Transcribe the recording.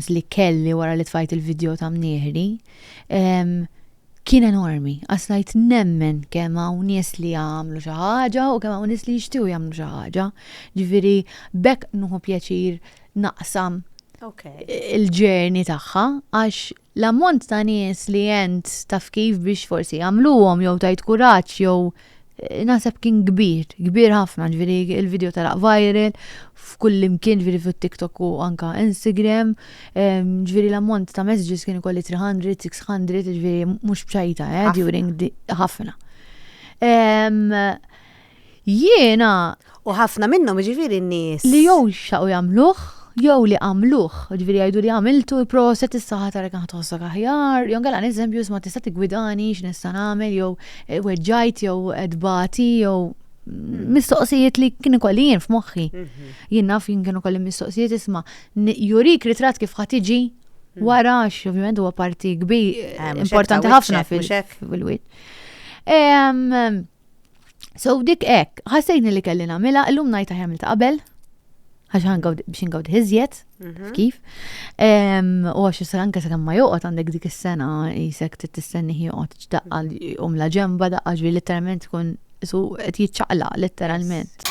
l-istress li kelli wara li tfajt il-video ta' mnieħri kien enormi. Għaslajt nemmen kemm hawn nies li għamlu xi ħaġa u kemm hawn nies li jixtiew jagħmlu xi ħaġa. Ġifieri bekk nuħu pjaċir naqsam il-ġerni tagħha għax l-ammont ta' nies li jent taf kif biex forsi jagħmluhom jew tajt kuraġġ jew naħseb kien kbir, kbir ħafna, ġviri il-video tal viral f'kull imkien ġviri fuq TikTok u anka Instagram, ġviri l-ammont ta' messages kien kolli 300, 600, ġviri mux bċajta, eh, during ħafna. Jiena. U ħafna minnhom, jiġifieri n-nies. Li jew xtaqu jagħmluh, jew li għamluh, jiġifieri jgħidu li għamiltu, proset issa ħa tara kemm ħa tħossok aħjar, jew inkella eżempju isma' tista' tiggwidani x'nista' nagħmel jew weġġajt jew qed bagħti jew mistoqsijiet li kien ikolli jien f'moħħi. Mhm. Jien naf jien kienu kolli mistoqsijiet isma' jurik ritratt kif ħa tiġi mhm. wara għax ovvjament huwa parti kbir eh, importanti ħafna fil-wiċċ. So dik hekk, ħassejni li kelli nagħmilha, illum ngħid aħjar ta' qabel, għax biex ingawd iżjed, mhm. kif. U għax s anke sa' ma joqgħod għandek dik is-sena jisek tistenni joqgħod ċdaqqa um la ġemba daqqa ġvi literalment tkun su qed jiċċaqla literalment.